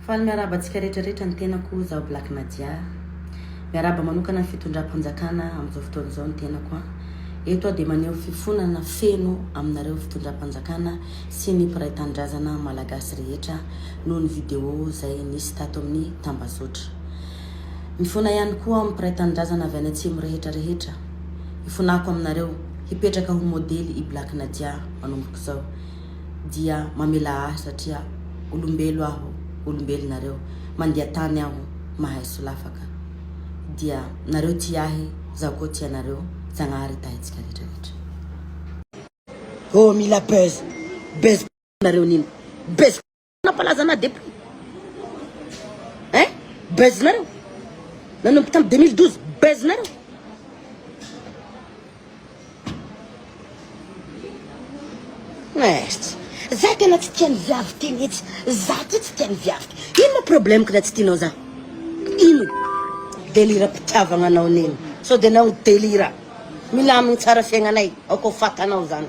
Faly miarahaba antsika rehetra rehetra ny tenako zaho Black Nadia miarahaba manokana ny fitondram-panjakana amin'izao fotoana izao ny tenako an eto aho dia maneho fifonana feno aminareo fitondram-panjakana sy ny mpiray tanindrazana malagasy rehetra noho ny vidéo izay nisy tato amin'ny tambazotra mifona ihany koa amin'ny mpiray tanindrazana avy any atsimo rehetra rehetra hifonako aminareo hipetraka ho modely i Black Nadia manomboka izao dia mamelà ahy satria olombelo aho, olombelo nareo, mandia tany aho, mahay solafaka. Dia nareo tia ahy, zaho koa tia anareo, Zagnahary hitahintsika rehetra rehetra. Oh mila buzz, buzz nareo nino, buzz Nampalaza anah depuis eh buzz nareo nanomboka tam 2012 buzz nareo Mercy. Za tena tsy tian'ny viavy ty mihitsy. Za ty tsy tian'ny viavy ty. Ino ma problème-ko raha tsy tianao za? Ino? Delira pitiavagna anao nino. Sao de nao delira. Milamigny tsara fiaignanay, aoka ho fatanao zany.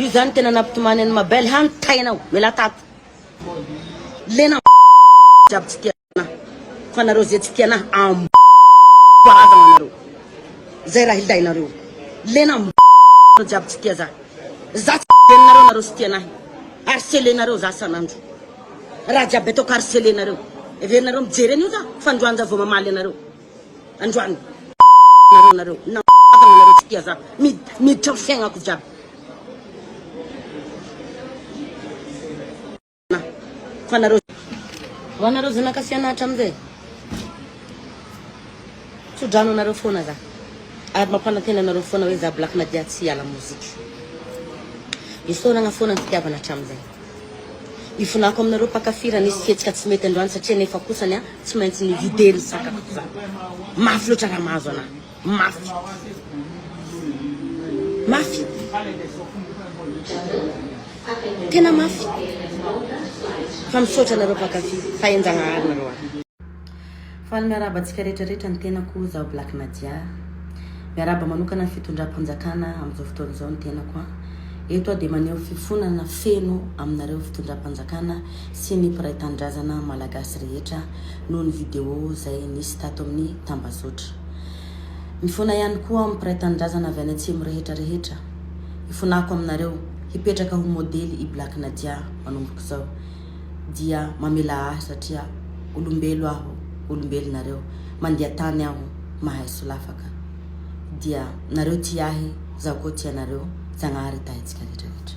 Io zany tena nampitomany an'i Mabel ha ny tainao, mialà tato. Lena jiaby tsy tia anah, fa nareo zay tsy tia anah am karazagna anareo. Zay raha ilainareo. Lena jiaby tsy tia zah. Zah tsy renareo nareo tsy tia anah. Harcelenareo zah san'andro. Raha jiaby ataoko harcelenareo. Heverinareo mijery an'io zah fa androany zah vao mamaly anareo. androany nareo nareo na nareo tsy tia za miditra am fiaignako jiaby fa nareo ho anareo zanaka fianatra amizay tsodrano anareo foana za ary mampanantena anareo foana hoe za black nadia tsy hiala mozika isaoragna foana ny fitiavana hatramizay Ivolako aminareo mpakafy raha nisy fihetsika tsy mety androany satria nefa kosa ny ahy tsy maintsy nivider ny sakafoko izany. Mafy loatra raha mahazo anahy. Mafy. Mafy. Tena mafy. Fa misaotra anareo mpakafy. Fa enjagnahary nareo ahy. Faly miarahaba antsika rehetra rehetra ny tenako oh zaho black nadia miarahaba manokana ny fitondram-panjakana amin'izao fotoana izao ny tenako an eto aho dia maneho fifonana feno aminareo fitondram-panjakana sy ny mpiray tanindrazana malagasy rehetra noho ny video izay nisy tato amin'ny tambazotra mifona ihany koa amin'ny mpiray tanindrazana avy any atsimo rehetra rehetra hifonako aminareo hipetraka ho modely i black nadia manomboka izao dia mamelà ahy satria olombelo aho, olombelo nareo, mandia tany aho, mahay solafaka. Dia nareo tia ahy, zaho koa tia anareo, Zagnahary hitahy antsika rehetra rehetra.